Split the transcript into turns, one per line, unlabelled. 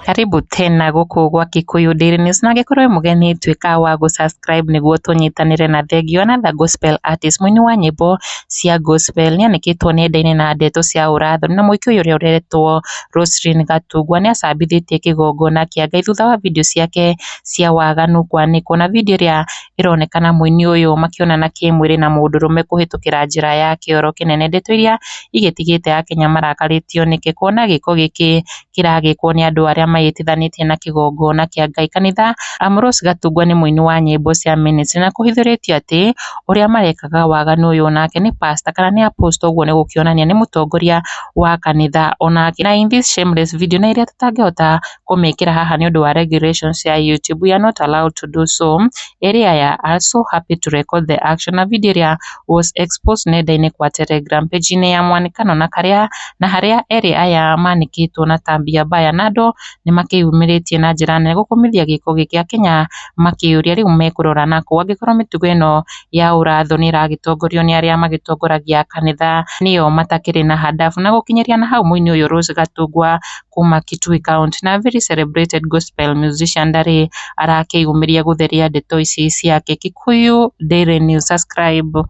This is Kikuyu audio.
Karibu tena gũkũ gwa Kikuyu Daily News na angĩkorwo wĩ mũgeni tuĩka wa gũ subscribe nĩguo tũnyitanĩre na Thengio na The Gospel Artist. Mũini wa nyĩmbo cia Gospel nĩanĩkĩtwo nenda-inĩ na ndeto cia ũrathoni na mũĩki ũyũ ũrĩa ũretwo Roselyn Gatungwa nĩacambithĩtie kĩgongona kĩa Ngai thutha wa video ciake cia waganu kwanĩkwo na video ĩrĩa ĩronekana mũini ũyũ makĩonana kĩmwĩrĩ na mũndũrũme kũhĩtũkĩra njĩra ya kĩoro kĩnene. Ndeto iria igĩtigĩte akenya marakarĩtio nĩkĩ? Kuona gĩko gĩkĩ kĩragĩkwo nĩ andũ arĩa meyĩtithanĩtie na kĩgongona kĩa Ngai. Kanitha, Ambrose Gatungwa nĩ mũini wa nyĩmbo cia ministry na kũhithũrĩtio atĩ ũrĩa marekaga waganu ũyũ nake nĩ pastor kana nĩ apostle ũguo nĩ gũkĩonania nĩ mũtongoria wa kanitha onake. Na in this shameless video na ĩrĩa tũtangĩhota kũmĩkĩra haha nĩ ũndũ wa regulations cia YouTube, we are not allowed to do so, area ya us, so happy to record the action na video ĩrĩa was exposed nenda-inĩ kwa Telegram page -inĩ ya mwanĩkano na karĩa na harĩa erĩ aya manĩkĩtwo na tambia mbaya na andũ nĩ makĩyumĩrĩtie na njĩra nene gũkũmithia gĩko gĩkĩ Akenya makĩũria rĩu mekũrora nakũ angĩkorwo mĩtugo ĩno ya ũrathũ nĩ ĩragĩtongorio nĩ arĩa magĩtongoragia kanitha nĩo matakĩrĩ na hadabu na gũkinyĩria na hau mũini ũyũ Rose Gatungwa kuma Kitui County. Na very celebrated gospel musician ndarĩ arakĩyũmĩria gũtheria ndeto ici ciake. Kikuyu Daily News, subscribe.